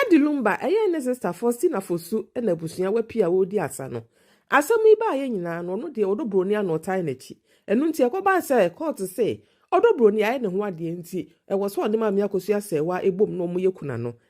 Daddy Lumba ɛyɛ ne sister Faustina Fosu na abusua wapi a wɔredi asa no. Asɛm yi baayɛ nyinaa no ɔno deɛ ɔdɔ buroni a na ɔtae n'akyi. Ɛno nti ɛkɔbaa sɛ court se ɔdɔ buroni ayɛ ne ho adeɛ nti ɛwɔ sɛ ɔne Maame Akosua Sɛɛwa bom na wɔyɛ kunano.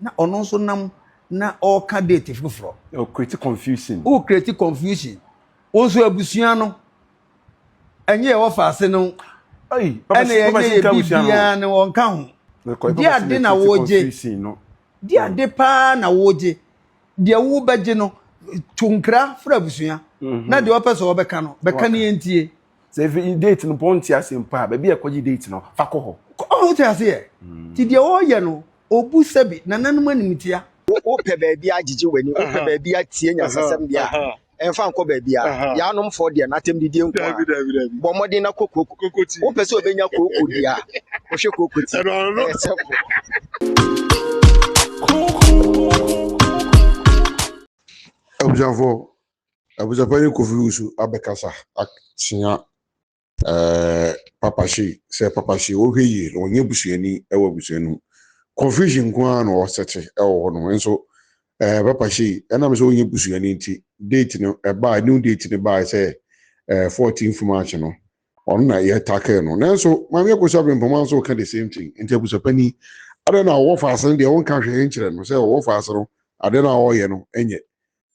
na ɔno nso nam na ɔreka date foforɔ. o create confusion. o create confusion wɔn nso abusua no ɛnyɛ ɛwɔ faase no ɛna ɛnyɛ yɛ biribiara no wɔn ka ho di ade na wɔregye di ade paa na wɔregye deɛ wɔrebɛgye no to nkira fura abusua na deɛ wɔpɛ sɛ wɔbɛka no bɛka ne yɛn tie. sɛ efi date no pɔn ti ase mpo a baabi a ɛkɔgye date no fa kɔ hɔ. ɔho te ase yɛ mm. ti deɛ ɔyɛ no obu sɛbi nananom animtia. wopɛ baabi agyegye w'ani wopɛ baabi atie nyasasɛm deɛ a ɛmfa nkɔ baabi a yɛanom fɔ deɛ n'atɛm didie nko a bɔ mmɔden na kɔ kooko wopɛ sɛ obɛnya kooko deɛ a wohwɛ kooko ti ɛyɛ sɛmpo abusuafoɔ Abusuapani Kofi Wusu abɛkasa akyea ɛɛ Papa Shea sɛ Papa Shea ɔhwɛ yie na ɔnyɛ busuani ɛwɔ abusua no mu. Confusion nko ara na ɔsɛte ɛwɔ hɔ nom nso ɛɛ Papa Shea ɛnam sɛ ɔnyɛ busuani nti date no ɛbaa new date no baa sɛ ɛɛ 14th March no ɔno na yɛ tackle no nanso Maame Akosua Abrempoma nso ka the same thing nti abusuapani adɛn na ɔwɔ faase no deɛ ɔnka hwee nkyerɛ no sɛ ɔwɔ faase no adɛn na ɔyɛ no ɛnyɛ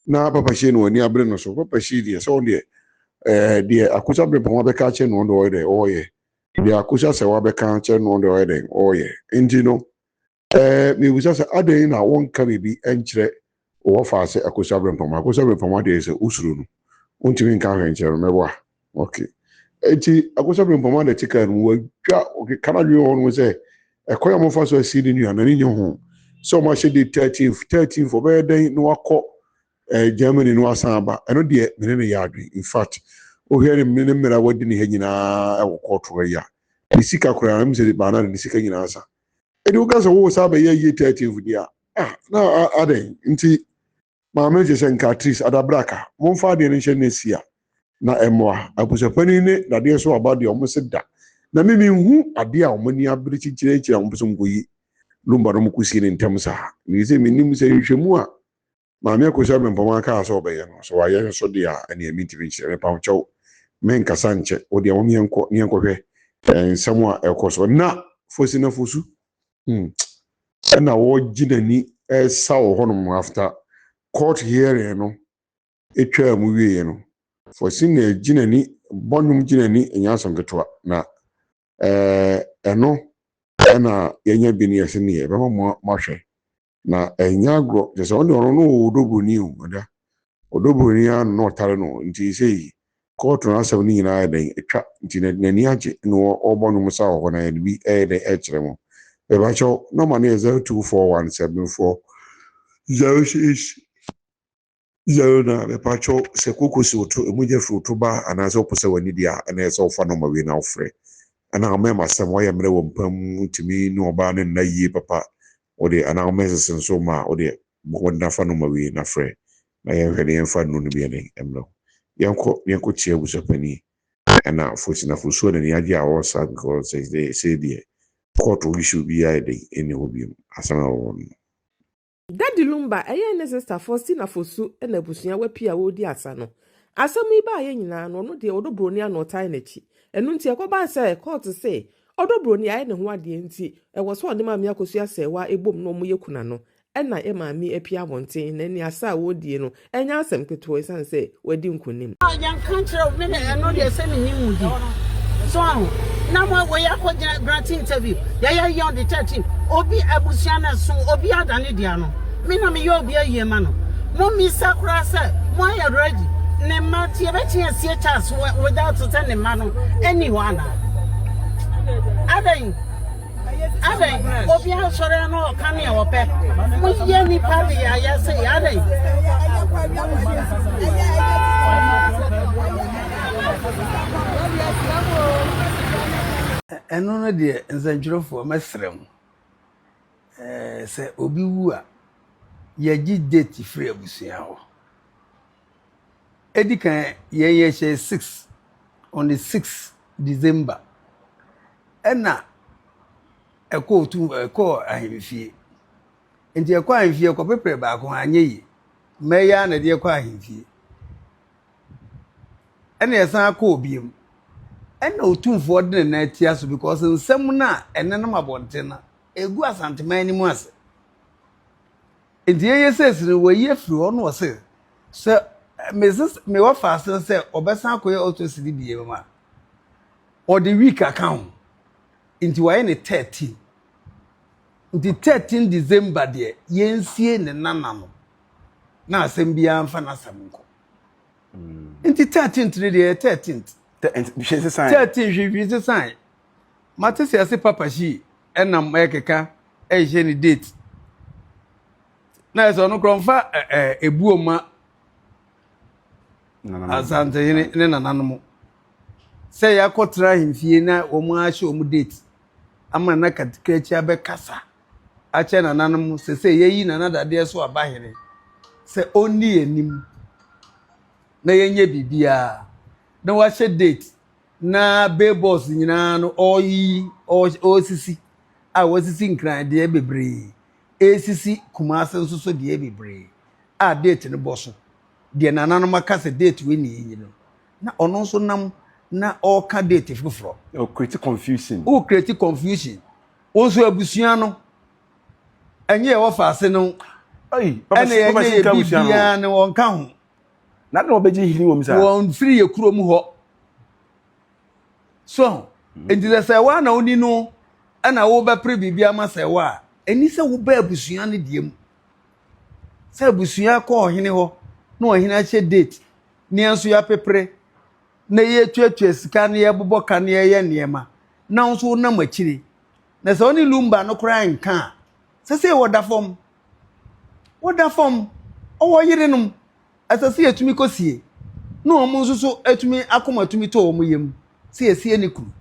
na papa hyee no ani abere no so papa hyee deɛ sɛ ɔno deɛ ɛɛ deɛ akosa abrɛpɔn wa bɛka akyɛ no ɔno deɛ ɔyɛ dɛ ɔɔyɛ deɛ akosa sɛ wa bɛka akyɛ no ɔno deɛ ɔyɛ dɛ ɔɔyɛ nti no ɛɛ mebisa sɛ adɛn na wɔnka biribi nkyerɛ wɔfa sɛ akosa abrɛpɔn akosa abrɛpɔn adeɛ sɛ wosuro no wontumi nka ahwɛ nkyerɛ no mɛboa Ok. Enti Akosa Bempɔm a na ɛte kaa no mu. Wadwa, ɔkeka n'adwene wɔ ho no sɛ, ɛkwan a wɔafa so asie ne nua no, n'ani nnye ho sɛ wɔahyɛ date thirteenth, thirteenth, ɔbɛyɛ dɛn na wakɔ eh, Germany na wasan aba. Ɛno deɛ, me ne no yɛ adwene. In fact, wohwɛ ne ne mmerɛ a wadi ne ha nyinaa wɔ kɔɔto ha yi a, ne sika koraa, ɛm sɛ baa no a, ne sika nyinaa sa. Enti woka sɛ woresan abɛyɛ ayie thirteenth deɛ a, ah, na a, adɛn nti? Maame no te sɛ Nkatrice Adabraka. Momfa adeɛ no nhyɛ n'asia na ɛmmoa. Abusuapanin ne dadeɛ so aba deɛ wɔn se da na me menhu adeɛ a wɔn ani abere kyekyere akyiri a wɔpɛ sɛ wɔkɔyi Lumba no kɔsie no ntɛm saa. Mefiri sɛ mennim sɛ nhwehwɛmu a Maame Akosua Mempoma kaa sɛ ɔbɛyɛ no, sɛ wayɛ nso deɛ a, ɛnneɛ mentumi nkyerɛ. Mepa wo kyɛw, menkasa nkyɛ. Wo deɛ mom yɛnkɔ na yɛnkɔhwɛ nsɛm a ɛrekɔ so na Fosi na Fosu Hmm. Ɛna wɔregye n'ani ɛresa wɔ hɔnom after court hearing no atwaa mu wieɛ no. Fosina gye n'ani, bɔ nnwom gye n'ani, ɛnyɛ asɛm ketewa. Na ɛɛ ɛno ɛna yɛanya bi ne yɛse neɛ ɛbɛma mo ahwɛ. na ɛnyɛ agorɔ kyerɛ sɛ ɔno ɔno wɔ ɔdɔbroni o ada ɔdɔbroni a na ɔtare no nti sei kɔɔto no asɛm no nyinaa ayɛ dɛn atwa nti na n'ani agye na ɔbɔ nwom sa wɔ hɔ na yɛde bi ɛyɛ dɛn ɛkyerɛ mo bɛbakyɛw nɔma no yɛ 0241 740 06 Yɛre no a, mɛpakyɛw, sɛ koko si wo to, emu gya fi wo to ba, anaasɛ wopɛ sɛ w'ani di a, ɛnna ɛyɛ sɛ wofa nɔma wei na wofrɛ. Anaa womɛn m'asɛm, woayɛ mmerɛ wɔ mpa mu, wontumi ne ɔbaa no nna yie papa, wo deɛ, anaa womɛn sese nso mma a, wo deɛ, bɔ mmɔden na fa nɔma wei na frɛ, na yɛnhwɛ na yɛmfa nnuro no bi ne mmrɛ wo. Yɛnkɔ, na yɛnkɔ tia abusuapanin. Ɛnna Fosina Fosuo de n'ani agye a ɔwɔ saa because sɛ sɛ, sei deɛ, kɔɔto issue biara a ɛdɛ yi nni hɔ bio, asɛm a ɛwɔ hɔ no. Daddy Lumba ɛyɛ ne sister Faustina Fosu na abusua wapie a wɔredi asa no. Asɛm yi baeɛ nyinaa no ɔno deɛ ɔdɔ broni a na ɔtae n'akyi. Ɛno nti ɛkɔbaa sɛ court se ɔdɔ broni ayɛ ne ho adeɛ nti ɛwɔ sɛ ɔne maame akosua sɛɛwa ɛbom na wɔyɛ kunano ɛna maame apue abɔnten na ɛne asa a wɔredie no Ɛnyɛ asɛm ketewa esiane sɛ wadi nkonim. Yɛnka nkyerɛ wo, me na ɛno deɛ sɛ menni mu di. So ahu? Na mo woyɛ akɔgyina grant interview, yɛyɛ yɛ on the 13, obi abusua no ɛso, obi ada ne dea no, me na meyɛ obi ayie ma no. Mommisa koraa sɛ moayɛ ready, ne mma nti yɛbɛtumi asie Charles without sɛ ne mma no nni hɔ anaa? Adɛn? Adɛn, obiara sɔre a na ɔka nea ɔpɛ. Moyɛ nnipa de ayɛ se, adɛn? Ɛno no deɛ, nsɛntwerɛfoɔ, mɛsrɛ mo, sɛ obi wu a, yɛgye date firi abusua hɔ. edi kan yɛn yɛhyɛɛ six on the six december ɛna ɛkɔɔ tu ɛkɔɔ ahemfie nti ɛkɔ ahemfie ɛkɔ pepere baako anyɛ yie mmɛyɛ na ɛde ɛkɔ ahemfie ɛna ɛsan akɔɔ biem ɛna otumfoɔ de ne nan atia so because nsɛm no a ɛnenam abɔnten no egu asanteman no mu ase. Enti eye sɛ esi no wɔayi afiri hɔ na ɔse sɛ mese mewɔ faase no sɛ ɔbɛsan akɔyɛ autopsy no biom a ɔde week aka ho nti wayɛ ne 13 nti 13 December deɛ yɛnsie ne nana no na asɛm biara mfa n'asɛm nkɔ nti 13th no deɛ yɛ 13th Te- nti hwee sesae 13 hwehwee sesae Mate se ase papa shi nam ɛkeka ɛhyɛ ne date na ɛsɛ ɔno korɔ mfa ebuo ma asantehene ne nananom sɛ yɛakɔ tena ahemfie na wɔn ahyɛ wɔn date ama na katikrakyi abɛkasa akyɛ nananom sɛ sɛ yɛyi nana dadeɛ so aba hene sɛ ɔnni anim na yɛnyɛ biribiara na wahyɛ date na billboards nyinaa no ɔreyiyi, ɔresisi a wɔasisi Nkran deɛ bebree, ɛresisi Kumasi nso so deɛ bebree a date no bɔ so. Deɛ nananom aka sɛ date wei na yɛyi no, na ɔno nso nam na ɔreka date foforɔ. O create confusion. O create confusion. Wo nso abusua no, ɛnyɛ yɛwɔ faase no, ɛna yɛnyɛ yɛ biribiara no, ɔnka ho. na na wɔbɛgye hene wɔ mu saa. wɔn firi yɛ kuro mu hɔ so ho mhm. nti sɛ sɛ wa na woni no ɛna wobɛpere biribi ama sɛ wa a ɛni sɛ wobɛ abusua no deɛ mu sɛ abusua kɔ ɔhene hɔ na ɔhene ahyɛ date ne nso yɛapepere na yɛtuatua sika na yɛbobɔ ka na yɛyɛ nneɛma na nso wonam akyire na sɛ wone lumba no koraa nka a sɛ sɛ wɔda fam Woda fam, ɔwɔ yerenom, ɛsɛ sɛ yɛtumi kɔsie, na wɔn nso so tumi akoma tumi tɔ wɔn yam sɛ yɛsie ne kunu.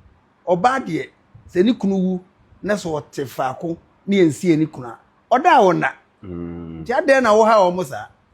Ɔbaa deɛ, sɛ ne kunu wu na sɛ ɔte faako na yɛnsie ne kunu a, ɔda a ɔnna. Nti adɛn na wohaw wɔn saa?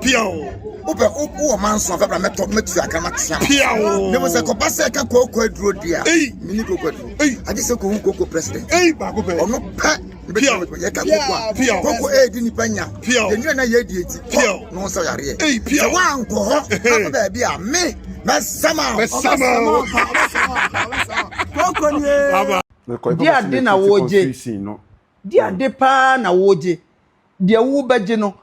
Piaw! Wopɛ wo wɔ manso afɛ bra mɛtɔ mɛtu akra matea ma. Piaw! Ne mo sɛ kɔba sɛ ɛka kooko aduro di a. Ei! Mini kooko aduro. Ei! Agye sɛ kohu kooko president. Ei! Baako pɛ. Ɔno pɛ. Piaw! Yɛka kooko a. Piaw! Kooko ɛɛdi eh, nipa nya. Piaw! Yɛnua na yɛɛdi eti. Piaw! Ne ho sɛ yareɛ. Ei! Piaw! Sɛ woankɔ hɔ akɔ baabi a me mɛsama. Mɛsama. Kooko nie. Di ade na wogye. Di ade paa na wogye. deɛ wobɛgye no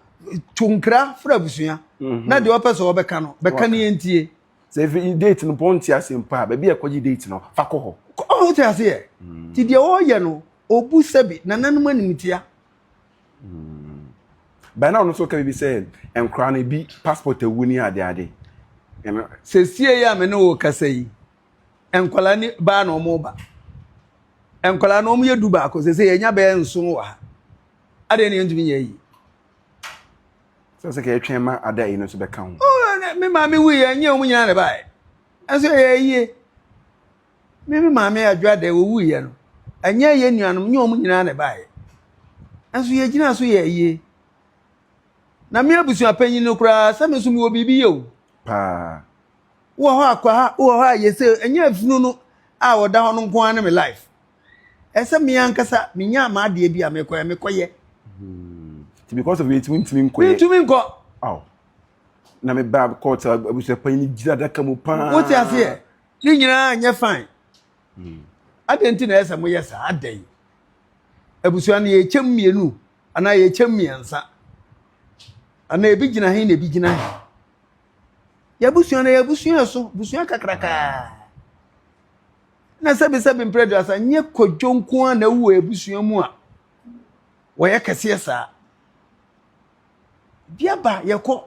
to nkra fra abusua mhm. na deɛ ɔpɛ sɛ ɔbɛka no bɛka ne yɛntie sɛ efi date no pɔn ti ase mpo a baabi a ɛkɔgye date no fa kɔ hɔ ɔho te ase yɛ mm. ti deɛ ɔyɛ no obu sɛbi nananom animtia mm. bɛn na ɔno nso ka bi sɛ nkora no bi passport awu ne ade ade sɛsie yi a me ne wo kasa yi nkwadaa ne baa na wɔreba nkwadaa no wɔyɛ du baako sɛ sɛ yɛnya bɛyɛ nson wɔ ha adeɛ ne yɛntumi nyɛ yi sɛ sɛ kɛyɛtwɛn ma ada yi no nso bɛka ho oh, me maame wui yɛ nyɛ wɔn nyinaa na baeɛ ɛnso yɛyɛ yie me me maame adwada wɔwui yɛ no ɛnyɛ yɛ nuanom nyɛ wɔn nyinaa na baeɛ ɛnso yɛgyina so yɛ yie na me abusua panyin no koraa sɛ me nso mewɔ biribi yɛ o paa wowɔ hɔ a kwaa wowɔ hɔ a yɛsɛ ɛnyɛ afunu no a ɔda hɔ no nko ara ne me life ɛsɛ me ankasa menya m'adeɛ bi a mekɔyɛ mekɔyɛ hmm. ti because of yɛtumi ntumi nkɔyɛ mentumi nkɔ aw na me ba court abusua panyin ne gyina adaka mu paa wote aseɛ ne nyinaa nyɛ fine hmm. adɛn nti na ɛsɛ moyɛ saa adɛn abusua no yɛkyɛm mmienu anaa yɛkyɛm mmiɛnsa anaa ebi gyina he na ebi gyina he Yɛabusua no yɛabusua ɛso, busua kakrakaa. Na sɛbisɛbi mprɛ duasa nyɛ kwadwo nko a na ɛwɔ abusua mu a wɔyɛ kɛseɛ saa. Biaba yɛkɔ,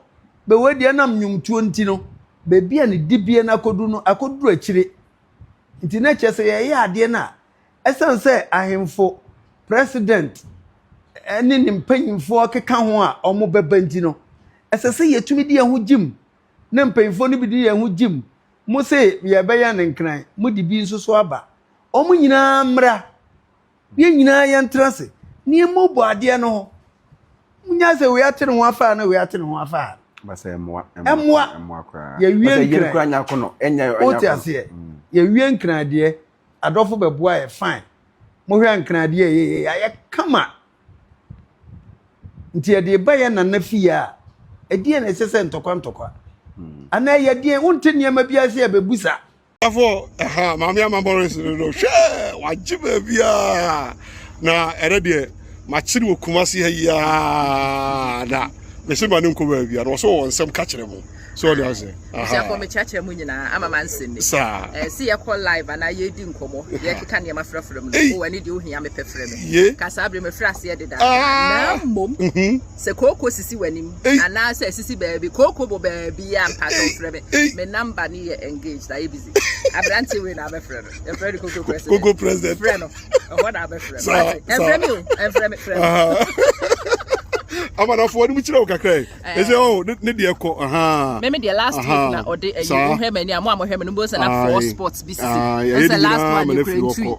bɛwɔ deɛ nam nnwomtuo nti no, baabi a ne dibea no akɔdu no akɔduru akyire. Nti na kyerɛ sɛ yɛyɛ adeɛ no a, Ɛsiane sɛ ahemfo, president, ne ne mpanyimfoɔ keka ho a wɔbɛba nti no, ɛsɛ sɛ yɛtumi di yɛn ho gyim na mpanyimfoɔ no bi di yɛn ho gyim. Mo se yɛbɛyɛ no nkran, mode bi nso so aba. Wɔn nyinaa mmra, yɛn nyinaa yɛntena ase na yɛmmɔbɔ adeɛ no ho. Monyae sɛ wei ate ne ho afa ha na wei ate ne ho afa ha. Ɛmmoa, yɛwie nkran. Wote aseɛ? Yɛwie nkran deɛ. adɔfo bɛboa yɛ fine mohwɛ ankradeɛ a ɛyɛ yɛ ayɛ kama nti ɛde ba yɛ nana fie a ɛdeɛ na ɛsɛ sɛ ntɔkwa ntɔkwa hmm. anaa ɛyɛ deɛ wonte nneɛma bi ase a bɛbu sa afo ɛha maame ama boris no no hwɛ wagye baabiaa na ɛrɛ deɛ makyere wɔ kuma se ha yiaa da mese ma ne nkɔ baabia na ɔsɛ wɔ nsɛm ka kyerɛ mo so ɔde ase abusuafo mekyerɛkyerɛ mu nyinaa ama ma nsɛm mi saa eh, si yɛkɔ live anaa yɛdi nkɔmmɔ yɛkeka nneɛma frɛfrɛ mu no wɔ ani deɛ wohia mepɛ frɛ me ka saa berɛ mefrɛ aseɛ deda ah. na mmom mhm. sɛ kooko sisi w'anim anaa sɛ sisi baabi kooko bɔ baabi a mpatɔ frɛ me me namba ne yɛ engaged ayɛ busy aberante wei na abɛfrɛ no yɛfrɛ no koko president koko president frɛ no ɛhɔ na abɛfrɛ no ɛmfrɛ me o ɛmfrɛ me frɛ me amanafoɔ no mu kyerɛ wo kakra Ɛsɛ eh. oh, ne deɛ kɔ ahaa. Meme deɛ last aha. week na ɔde ayi eh, wohwɛ m'ani a mo a mohwɛ me no mbɔ sɛ na four sports bi si ɛsɛ last one ne kura ntui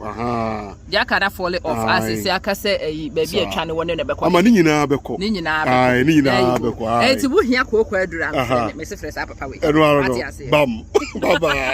deɛ aka na fɔle off ase sɛ aka sɛ ayi eh, baabi atwa ne wɔ ne na ɛbɛkɔ ama ne nyinaa bɛkɔ ne nyinaa bɛkɔ ne nyinaa bɛkɔ ɛnti eh, wohia kooko aduru a mefrɛ ne mese frɛ saa papa wei ɛno ara no bam baba